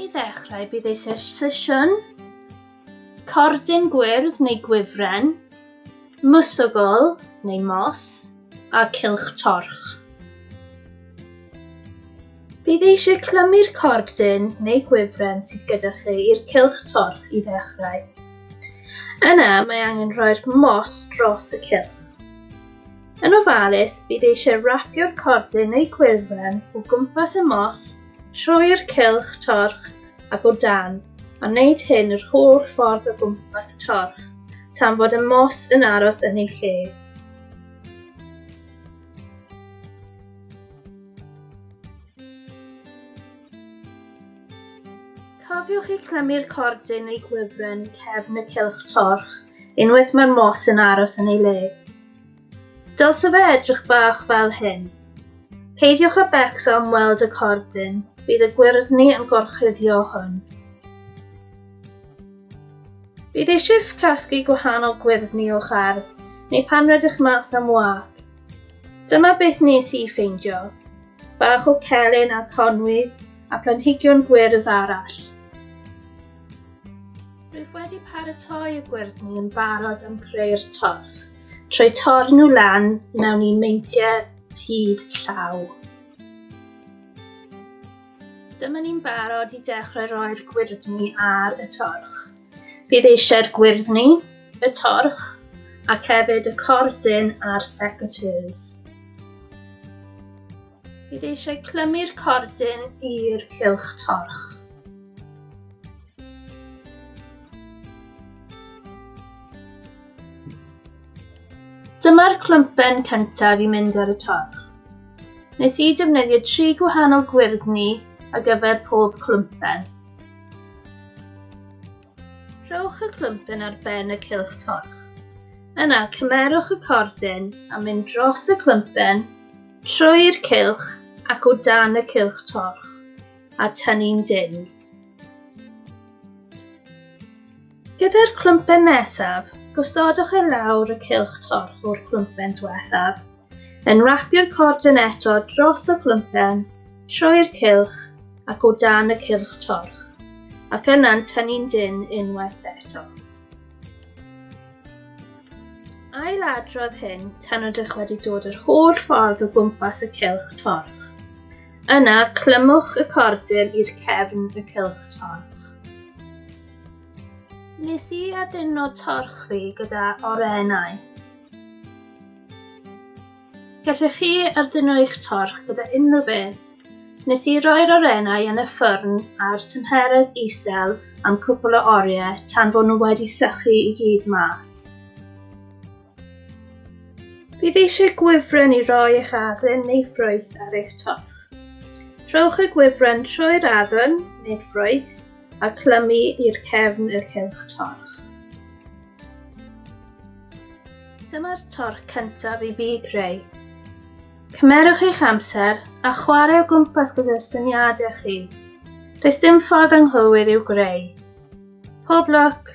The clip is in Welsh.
I ddechrau bydd ei sesiwn cordyn gwyrdd neu gwifren, mwsogol neu mos a cilch torch. Bydd eisiau clymu'r cordyn neu gwifren sydd gyda chi i'r cilch torch i ddechrau. Yna mae angen rhoi'r mos dros y cilch. Yn ofalus, bydd eisiau rapio'r cordyn neu gwyrfen o gwmpas y mos, trwy'r cylch torch ac o dan, a wneud hyn yr holl ffordd o gwmpas y torch, tan fod y mos yn aros yn ei lle. Cofiwch i clymu'r cordyn neu gwifren cefn y cylch torch unwaith mae'r mos yn aros yn ei le. Dylse fe edrych bach fel hyn. Peidiwch â becso am weld y cordyn, bydd y gwyrddni yn gorchuddio hwn. Bydd eisiau casglu gwahanol gwyrddni o'ch ardd, neu pan rydych mas am wac. Dyma beth nes i ffeindio. Bach o celyn a conwydd a planhigion gwyrdd arall. Rwyf wedi paratoi y gwyrddni yn barod am creu'r torch, trwy torn nhw lan mewn un meintiau hyd llaw. Dyma ni'n barod i dechrau roi'r gwyrddni ar y torch. Bydd eisiau'r gwyrddni, y torch, ac hefyd y cordyn a'r secateurs. Bydd eisiau clymu'r cordyn i'r cylch torch. Dyma'r clympen cyntaf i mynd ar y torch. Nes i defnyddio tri gwahanol gwyrddni ar gyfer pob clympen. Rhowch y clwmpyn ar ben y cylch torch. Yna, cymerwch y cordyn a mynd dros y clwmpyn, trwy'r cylch ac o dan y cylch torch, a tynnu'n dynn. Gyda'r clwmpen nesaf, gosodwch e lawr y cylch torch o'r clwmpen diwethaf. Yn rapio'r cordyn eto dros y clympen, trwy'r cylch ac o dan y cylch torch, ac yna'n tynnu'n dynn unwaith eto. Ail adrodd hyn tan ydych wedi dod yr holl ffordd o gwmpas y cylch torch. Yna, clymwch y cordyn i'r cefn y cylch torch. Nes i addurno torch fi gyda orennau. Gallech chi ardduno eich torch gyda unrhyw beth. Nes i roi'r orennau yn y ffyrn a'r tymheredd isel am cwpl o oriau tan bod nhw wedi sychu i gyd mas. Bydd eisiau gwifren i roi eich adden neu ffrwyth ar eich torch. Rhowch y gwifren trwy'r adden neu'r ffrwyth a clymu i'r cefn y cylch torch. Dyma'r torc cyntaf i fi greu. Cymerwch eich amser a chwarae o gwmpas gyda'r syniadau chi. Does dim ffordd anghywir i'w greu. Pob lwc!